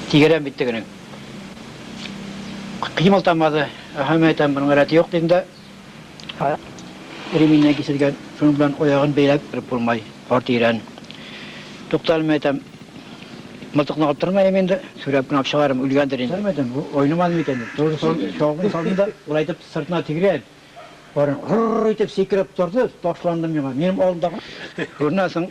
Тигерәм бит тегенең. Кыймыл тамады. Аһа, мә, әйтәм, моның рәте юк, дим дә, реминнән киселгән, шуның белән аягын бәйләп кереп булмай, карт ирән. Туктале, мә, әйтәм, мылтыкны алып тормыйм инде, сүрәп кенә алып чыгармын, үлгәндер инде. Мә, әйтәм, бу айнымады микән, дим. Тоже чалгын салдым да, болай итеп сыртына тигрәп, барын гыр-р итеп сикереп торды, ташланды миңа. Минем алдымда. Шуннан соң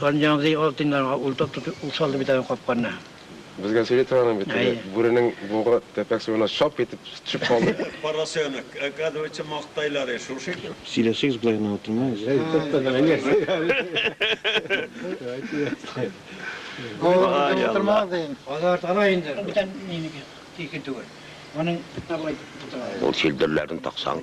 Ганҗанзый алтын ярга ул тотты, ул салды бит аны капканны. Безгә сөйли торган бит теге бүренең бугы тәпәк суына шап итеп төшеп калды. Поросенок, оказывается, мактайлар и шушы икән. Сөйләшегез, болай гына утырмагыз. Ул чилдерләрен таксаң.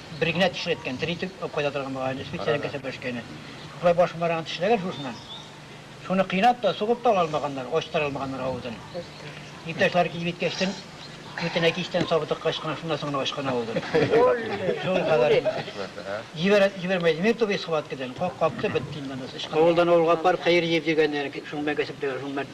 Бер генә теше әткән, тере итеп кайта торган бугай әле, специаль кәсеп эшкәне. Шулай башын барган тешләгән шушыннан. Шуны кыйнап та, сугып та ала алмаганнар, ачтыра алмаганнар авызын. Иптәшләре килеп җиткәчтен, битенә кичтән сабы тыккач кына, шуннан соң гына ачкан авызын. Шул кадәр инде. Җибәрә, җибәрмәй димим тугыз схваткадан, капты, бетте инде анысы. Авылдан авылга пар, кыер җир дигәннәр, шуның белән кәсепләгән, шуның белән.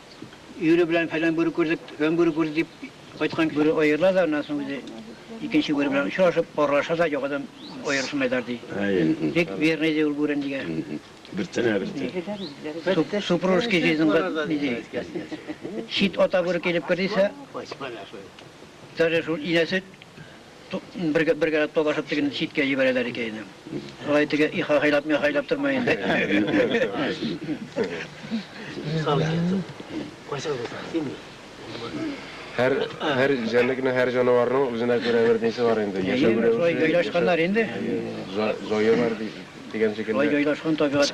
Өере белән фәлән бүре күрдек, төгән бүре күрдек дип кайткан бүре аерыла да, аннан соң үзе икенче бүре белән очрашып, аралаша да, яңадан аерышын әйтәр ди. Бик верный ди ул бүре нигә. Бер тенә, бер тенә. Супружеский жизньга ди. Чит ата бүре килеп кер дисә, даже шул инәсе, Бер бер гәрәт палашып тегене читкә җибәрәләр икән инде. Алай теге ихахайлап михайлап тормый инде. Һәр һәр җәнлекнең, һәр җанаварның үзенә күрә бер дисе бар инде. Яшәү Әйе, шулай рәвеше, җайлашканнар инде. җа- җае бар ди- дигән Шулай шикелле. җайлашкан табигать.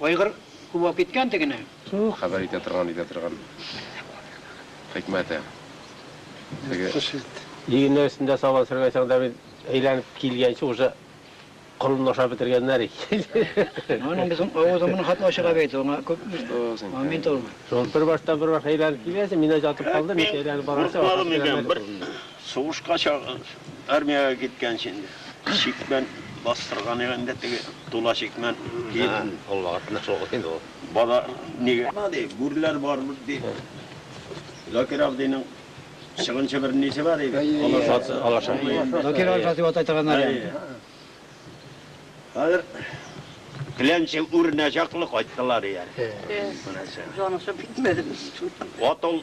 Айгыр күп алып киткән тегене. Туу хәбәр итә торган итә торган хикмәте теге. Тотыш ит. Игеннәр өстендә сабан сөргәнсең дә бит, әйләнеп килгәнче уже колынны ашап бетергәннәр икән. Аның безнең авызың моның хәтле ачыга бит, аңа күп момент ул. Шул бер баштан бер баш әйләнеп килгәнче, мин дә җатып калдым, ник әйләнеп барганчы ашап бетерәләр икән. Сугышка чак, армиягә киткәнче инде чикмән бастырган иде инде теге тула чикмән. Базар нигә гына ди, гүрләр барыбер ди. Закир абзыйның чыгынчы бер нисе бар иде, алашасы. Закир алашасы дип атай торганнар иде аны. Хәзер Клянче үренә чаклы кайттылар ияреп. Җанысы бетмәде без шуннан. Ат ул.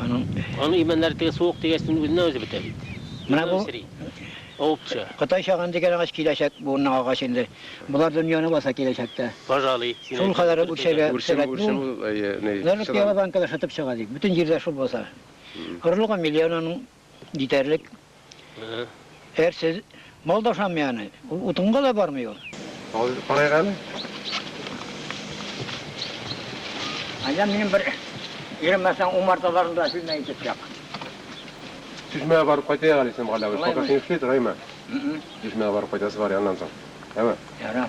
Аның имәннәре теге суык тигәчтен үзеннән үзе бетә бит. Менә бу овча. Кытай чаган дигән агач киләчәк буынның агачы инде. Болар дөньяны баса киләчәктә. Пожалуй. Шул кадәр үрчәгә сәләт бу. Нәр пиала банкада шытып чыга ди. Бөтен җирдә шул баса. Орлыгы миллион аның. Җитәрлек. Әрсез. Мал да ошамый аны. Ул утынга да бармый ул. Алып карыйк әле. Әллә минем бер иремәсәң умарталарын да сүзмә итеп чак. Чишмәгә барып кайтыйк әле, Исән Галәвеш. Пока син эшли тор, әйме? Чишмәгә барып кайтасы бар, аннан соң. Әйме? Ярар.